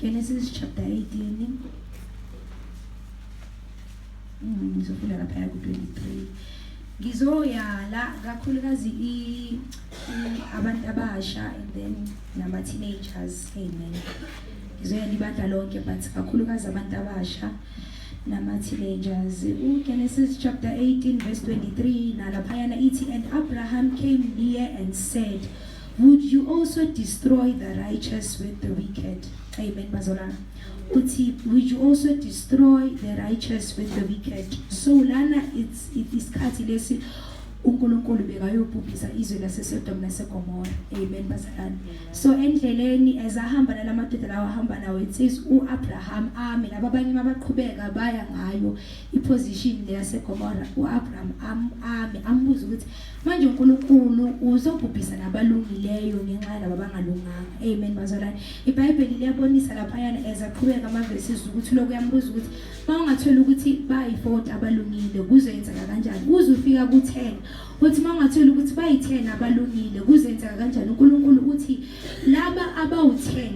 Genesis chapter 18 ngizofunda mm, laphaya ku-23 ngizoyala kakhulukazi abantu abasha and then nama-teenagers amen ngizoyala ibandla lonke but kakhulukazi abantu abasha nama-teenagers ugenesis chapter 18 verse 23 nalaphayana ithi and abraham came near and said Would you also destroy the righteous with the wicked? Amen, bazalwane. Uthi, would you also destroy the righteous with the wicked? So lana it's it is isikhathi lesi uNkulunkulu bekayobhubhisa izwe laseSodom naseGomora. Amen, bazalwane. So endleleni as ahamba nalamadoda lawa ahamba nawo it says uAbraham ame laba abanye mabaqhubeka baya ngayo iposition leyaseGomora uAbraham am ame ambuza ukuthi manje uNkulunkulu uzobhubhisa nabalungileyo ngenxa yalabo abangalunganga amen bazalwane iBhayibheli liyabonisa lapha yana ezaqhubeka amavesi ukuthi lokho yambuza ukuthi mawungathola ukuthi bayi-40 abalungile kuzoyenzeka kanjani kuze ufika ku-10 uthi mawungathola ukuthi bayi-10 abalungile kuzenzeka kanjani uNkulunkulu uthi laba abawu-10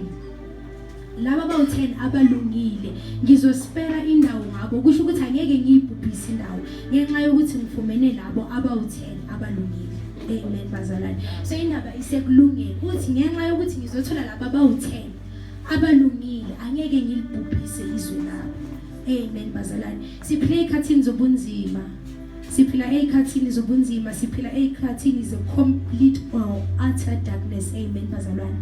laba bawu-10 abalungile ngizospera indawo ngabo kusho ukuthi angeke ngiyibhubhise indawo ngenxa yokuthi ngifumene labo abawu-10 abalungile amen bazalwane so indaba isekulungeni ukuthi ngenxa yokuthi ngizothola laba bawu-10 abalungile angeke ngilibhubhise izwe labo amen bazalwane siphile ekhathini zobunzima Siphila ezikhathini zobunzima, siphila ezikhathini ze complete or utter darkness. Amen bazalwane.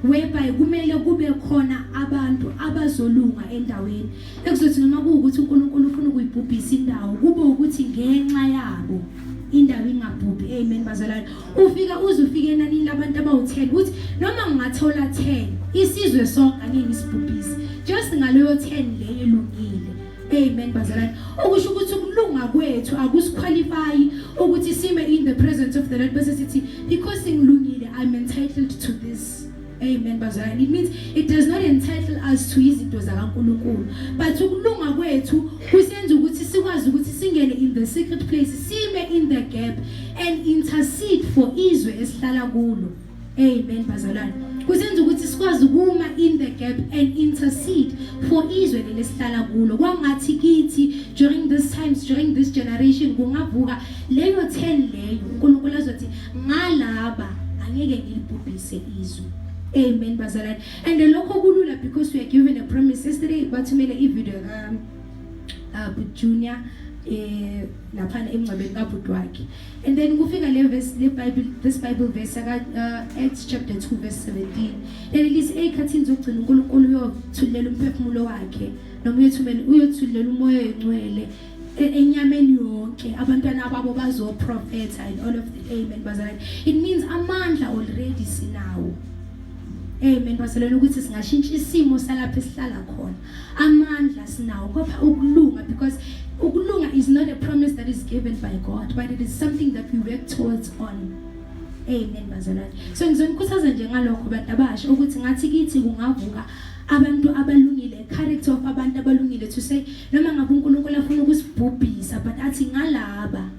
Whereby kumele kube khona abantu abazolunga endaweni. Ekuzothi noma kuwukuthi uNkulunkulu ufuna ukuyibhubhisa indawo, kube ukuthi ngenxa yabo indawo ingabhubhi. Amen bazalwane. Ufika uze ufike enanini labantu abawu-10 ukuthi noma ngingathola 10 isizwe sonke angeke isibhubhise. Just ngaleyo 10 leyo elungile. Amen bazalwane. Okusho ukuthi ukulunga kwethu akusiqualify ukuthi sime in the presence of the Lord bese sithi because ngilungile I'm entitled to this. Amen bazalwane. It means it does not entitle us to izinto zakaNkuluNkulu. But ukulunga kwethu kusenza ukuthi sikwazi ukuthi singene in the secret place, sime in the gap and intercede for izwe esihlala kulo. Amen bazalwane. Kusenza ukuthi sikwazi ukuma in the gap and intercede for izwe lelesihlala kulo. Kwangathi kithi during this times during this generation kungavuka leyo 10 leyo uNkulunkulu azothi ngalaba angeke ngilibhubhise izwe. Amen bazalwane. And lokho kulula because we are given a promise. Yesterday bathumele ivideo ka uh, Junior eh lapha emngcwabeni kabhuti wakhe. And then kufika le verse le Bible this Bible verse aka uh, Acts chapter 2 verse 17. Leli lisi ekhathini zokugcina uNkulunkulu uyothulela umphefumulo wakhe noma uyothumela uyothulela umoya oyingcwele e, enyameni yonke abantwana babo bazoprofetha and all of the amen bazalwane it means amandla already sinawo amen bazalwane ukuthi singashintsha isimo salapha esihlala khona amandla sinawo kodwa ukulunga because ukulunga is not a promise that is given by God but it is something that we work towards on amen bazalwane so ngizonikhuthaza nje ngalokho bantu abasha ukuthi ngathi kithi kungavuka abantu abalungile character of abantu abalungile to say noma ngabe uNkulunkulu afuna ukusibhubhisa but athi ngalaba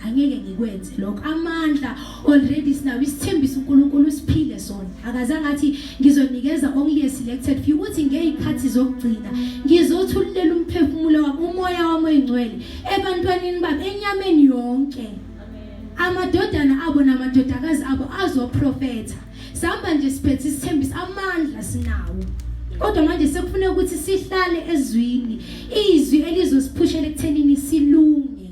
angeke ngikwenze lokho amandla already sinawo isithembiso uNkulunkulu usiphile sona akazange athi ngizonikeza only a selected few ukuthi ngeyikhathi zokugcina ngizothululela umphefumulo wami umoya wami oyingcwele ebantwanini bami enyameni yonke amadodana abo namadodakazi abo azoprofetha sihamba nje siphethe isithembiso amandla sinawo kodwa manje sekufuneka ukuthi sihlale ezwini izwi elizosiphushela ekuthenini silunge